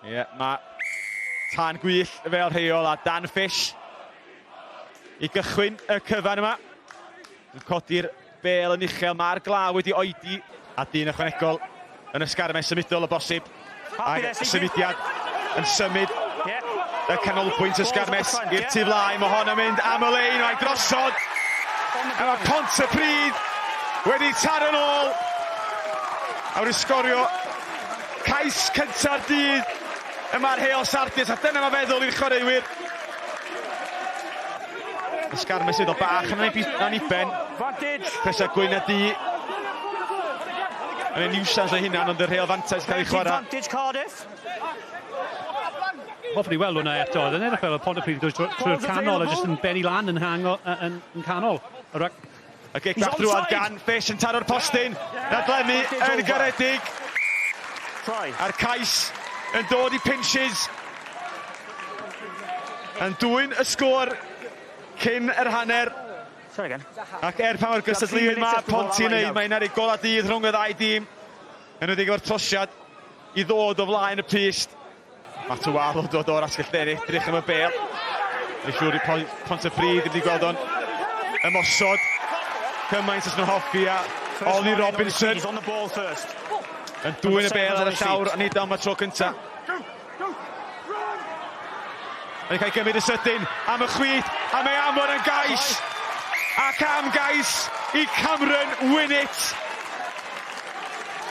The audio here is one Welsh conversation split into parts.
Ie, yeah, mae tan gwyll fel rheol a Dan Fish i gychwyn y cyfan yma. Yn codi'r bel yn uchel, mae'r glaw wedi oedi a dyn ychwanegol yn ysgarmau symudol o bosib. Ac symudiad yn symud y canolbwynt ysgarmes i'r tu flaen. Mae hon yn mynd am y lein, mae'n drosod. A mae Pont y Pryd wedi taro'n ôl. A wedi sgorio Cais cynta'r dydd yma ar Heol Sardis a dyna mae feddwl i'r chwaraewyr. Ysgar mesydd o bach yn ei ben. Presa gwyn a di. Yn ei niwsans ei hunan ond y rheol fantais cael ei chwarae. Hoffwn i weld hwnna eto. Oedd yn edrych fel y pond y pryd trwy'r canol a jyst yn benni lan yn, hango, yn, yn canol. Y gic bach drwad gan Fish yn taro'r postyn, na Glenni yn garedig. A'r cais yn dod i Pinches. Yn dwyn y sgôr cyn yr hanner. Ac er pa mor gystadleuwydd mae Ponty yn ei, mae'n ar ei golau dydd rhwng y ddau dîm. Yn wedi efo'r trosiad i ddod o flaen y pyst. Mae Tywal yn dod o'r asgell dde'r edrych am y bel. Mae'n siŵr i Pont y Ffrid, wedi gweld o'n ymosod. Cymaint os nhw'n hoffi a Ollie Robinson yn dwy'n y bel ar y llawr a nid am y tro cyntaf. Mae'n cael gymryd y sydyn am y chwith a mae Amon yn gais ac am gais i Cameron Winnett.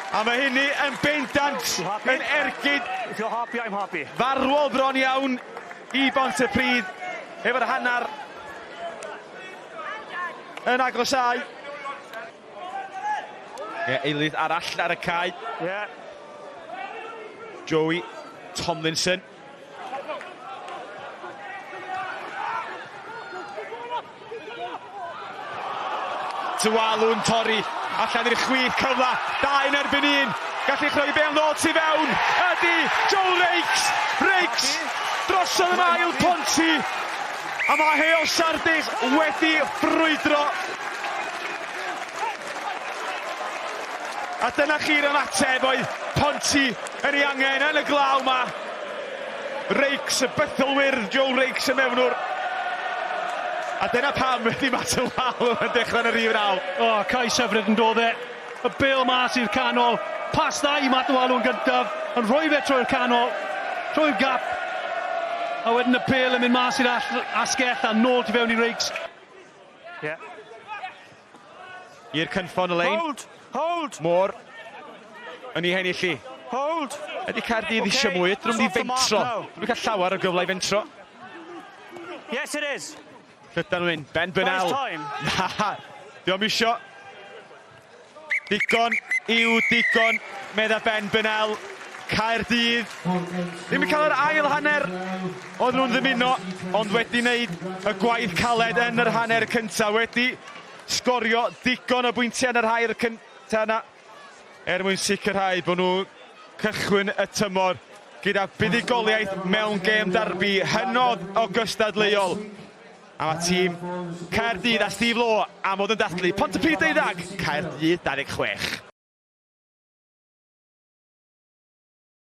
A mae hynny yn bendant yn ergyd If you're happy, I'm happy. farwol bron iawn i Bontypridd efo'r hanner yn agosáu. Ie, eilydd arall ar y cae. Ie. Joey Tomlinson. Tualu'n torri allan i'r chwith cyfle, dau yn erbyn un, gallu chreu bel nôl tu fewn, ydy Joe Rakes, Rakes drosodd yn ail ponti, a mae Hale Sardis wedi ffrwydro. A dyna chi'r ymateb oedd ponti Yr i angen yn y glaw ma. Rakes, y bythol wyrdd Joe Rakes y mewnwr. A dyna pam ydi Matt y wal yn dechrau yn y rif naw. O, oh, cais hyfryd yn dod e. Y bel mas i'r canol. Pas dda i Matt y wal yn gyntaf. Yn rhoi fe trwy'r canol. Trwy'r gap. A wedyn y pel yn mynd mas i'r asgell a nôl tu fewn i Rakes. Yeah. I'r cynffon y lein. Hold! Hold! Moore. Yn ei hennill i. Hold! Ydy Caerdydd okay. eisiau mwy. Drwm di fentro. Dwi'n cael llawer o gyfle i fentro. Yes, it is. Llydan Wyn, Ben Bynel. Na, diolch misio. Digon yw digon, medda Ben Bynel. Caerdydd. Ddim yn cael yr ail hanner. Oedden nhw'n ddymuno, ond wedi wneud y gwaith caled yn yr hanner cyntaf, wedi sgorio digon o bwyntiau yn yr hair cyntaf yna er mwyn sicrhau bod nhw cychwyn y tymor gyda buddugoliaeth mewn gêm darbi hynod o gystadleuol. A mae tîm Caerdydd a Steve Law am fod yn dathlu Pontypridd deuddag, Caerdydd 26.